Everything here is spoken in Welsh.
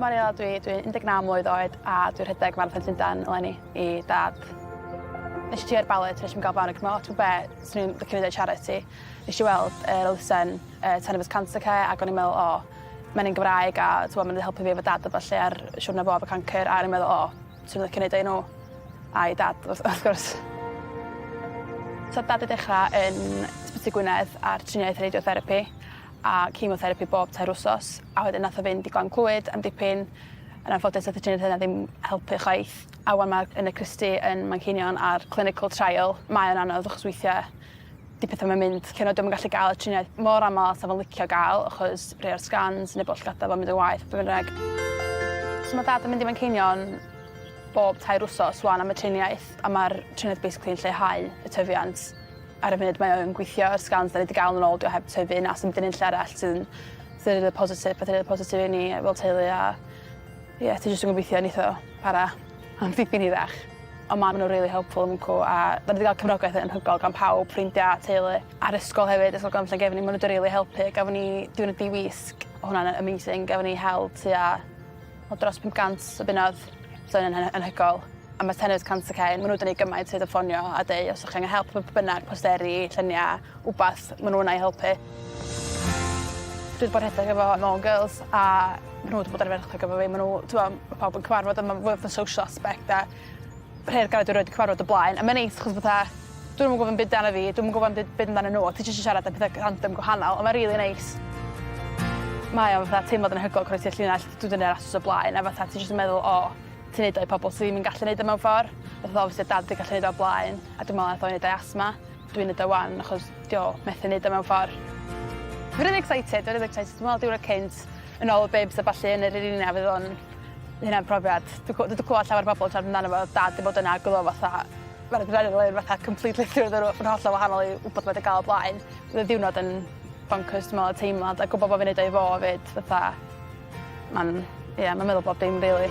Mariela dwi dwi 19 mlwydd oed a dwi rhedeg Marathon Llundain eleni i dad. Nesh i trio i'r ballet nesh i'm ga'l flan ac ma' lot o be' swn i'n licio neud charity. Nesh i weld yr elusen yy Ten of us cancer care ag o'n i'n me'wl o ma'n un Gymraeg a t'mo' ma' n'w 'di helpu fi efo dad a ballu ar siwrna fo efo cancyr a o'n i'n meddwl o Swn i'n licio neud o i nhw. A i Dad wrth wrth gwrs. Nath Dad ei dechra yn Ysbyty Gwynedd ar triniaeth radiotherapi a chemotherapi bob tair wsos a wedyn nath o fynd i Glan Clwyd am dipyn. Yn anffodus nath y triniaeth yna ddim helpu chwaith a ŵan ma' yn y Christie yn Manceinion ar clinical trial. Mae o'n anodd achos weithie 'di petha 'im yn mynd cyn oed 'im yn gallu ga'l y triniaeth mor amal a sa fo'n licio ga'l achos rhei o'r scans neu bo' llygada fo'n mynd yn waeth be' bynnag. So ma' dad yn mynd i Manceinion bob tair wsos ŵan am y triniaeth a ma'r triniaeth basically yn lleihau y tyfiant. Ar y funud mae o yn gwithio yr scans 'dan ni 'di ga'l yn ôl 'di o heb tyfu na sdim 'di neud lle arall sydd yn sydd yn rili positif petha rili positif i ni fel teulu a Ie ti jyst yn gobeithio neith o para am dipyn hirach. Ond ma' n'w rili helpful yn Mcw a 'dan ni 'di ga'l cefnogaeth anhygol gan pawb, ffrindia, teulu a'r ysgol hefyd Ysgol Glan Llangefni ma' n'w 'di rili helpu gafon ni diwrnod di-wisg o' hwnna'n yy amazing gafon ni hel tua o dros pump gant o bunnodd so o'n yn anhygol a ma' tenant cant y cen ma' n'w 'di neu' gymaint hyd yn ffonio a deu' os o'ch chi angen help b- b- bynnag posteri llynia wbath ma' n'w yna i helpu. Dwi 'di bod rhedeg efo Môn Girls a ma' n'w 'di bod ar y efo fi ma' n'w t'mo' ma' pawb yn cyfarfod a ma'n fwy fatha social aspect a rhei o'r dwi rioed 'di cyfarfod o blaen a ma'n neis achos fatha dwi ddim yn gwbo 'im byd 'dan fi dwi'm yn gwbo 'im byd byd amdanyn n'w a ti jyst yn siarad am petha random gwahanol a ma' rili neis. Mae o fatha teimlad anhygoel croesi'r llinell dwi 'di neud rasys o blaen a fatha ti jyst yn meddwl o ti neud o i pobol sy ddim yn gallu neud o mewn ffor. Fatha obviously o'dd dad 'di gallu neud o o'r blaen a dwi me'wl nath o neud o i asthma. Dwi'n neud o 'wan achos 'di o methu neud o mewn ffor. Fi rili excited fi rili excited dwi me'wl diwrnod cynt yn ôl y bibs a ballu yn yr arena fydd o'n ma' hynna'n profiad dwi gw- dwi 'di clŵad llawer o bobol siarad amdano fo o'dd dad 'di bod yna ag o'dd o fatha ma'r adrenalin fatha completely through the roo- ma'n hollol wahanol i wbeth ma' 'di ga'l o blaen. O'dd y ddiwrnod yn boncyrs dwi me'wl y teimlad a gwbo bo' fi'n neud o i fo 'fyd fatha ma'n ie ma'n meddwl bob dim rili.